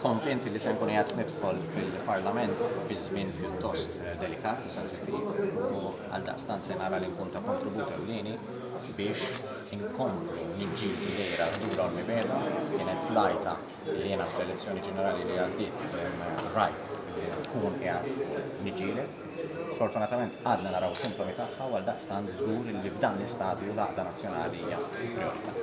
Konvinti li se nkun qed nidħol fil-Parlament fi żmien pjuttost eh, delikat u sensittiv u għal daqstant se nara li nkun ta' kontribut ewlieni biex inkomplu niġġieldu lejra dura u l-mibeda kienet flajta Jiena fl-elezzjoni ġenerali li għaddiet rajt li nkun qiegħed niġġieled. Sfortunatament għadna naraw sintomi tagħha għal daqstant żgur li f'dan l-istadju l-għaqda nazzjonali hija priorità.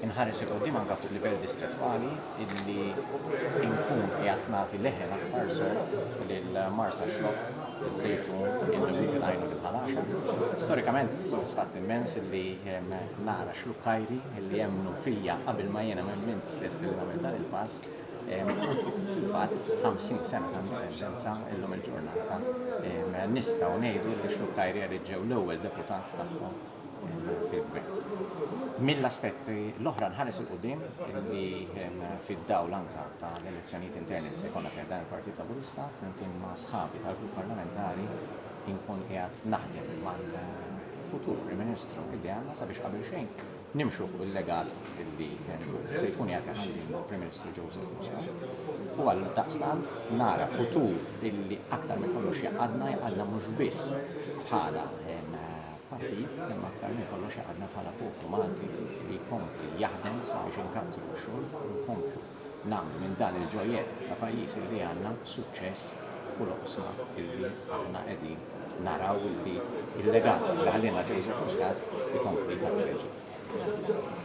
Inħares il qudiem anke fuq livell distrettwali illi nkun qiegħed nagħti leħen aktar sod lil Marsa Xlokk, iż-Żejtun, il-Ġwid il-Għajnun il-Ħalaxa. Storikament sodisfatt immens illi nara xlukkajri li jemmnu fija qabel ma jiena emmint stess li nagħmel dan il-pass, fil-fatt 50 sena ta' indipendenza illum il-ġurnata nistgħu ngħidu li xluk Kajrieri ġew l-ewwel deputat tagħhom fil-gvern. Mill-aspetti l-oħra nħares il quddiem li fid-dawl anke ta' l-elezzjonijiet interni li se jkollna fih dan il-Partit Laburista flimkien ma' sħabi tal-Grupp Parlamentari Inkun qiegħed naħdem mal-futur Prim Ministru illi għandna sabiex qabel xejn nimxu fuq il-legat illi se jkun qiegħed iħalli l-Prim Ministru Joseph Muscat. U għal daqstant nara futur illi aktar minn kollox jaqadna jaqadna mhux biss bħala partit imma aktar minn kollox għadna bħala poplu Malti li jkompli jaħdem sabiex inkattru x-xogħol u nkomplu nagħmlu minn dan il-ġojjett ta' pajjiż li għandna suċċess f'kull oqsma illi aħna qegħdin naraw illi l-legat li ħallielna Joseph Muscat ikompli jħaddem il-ġid.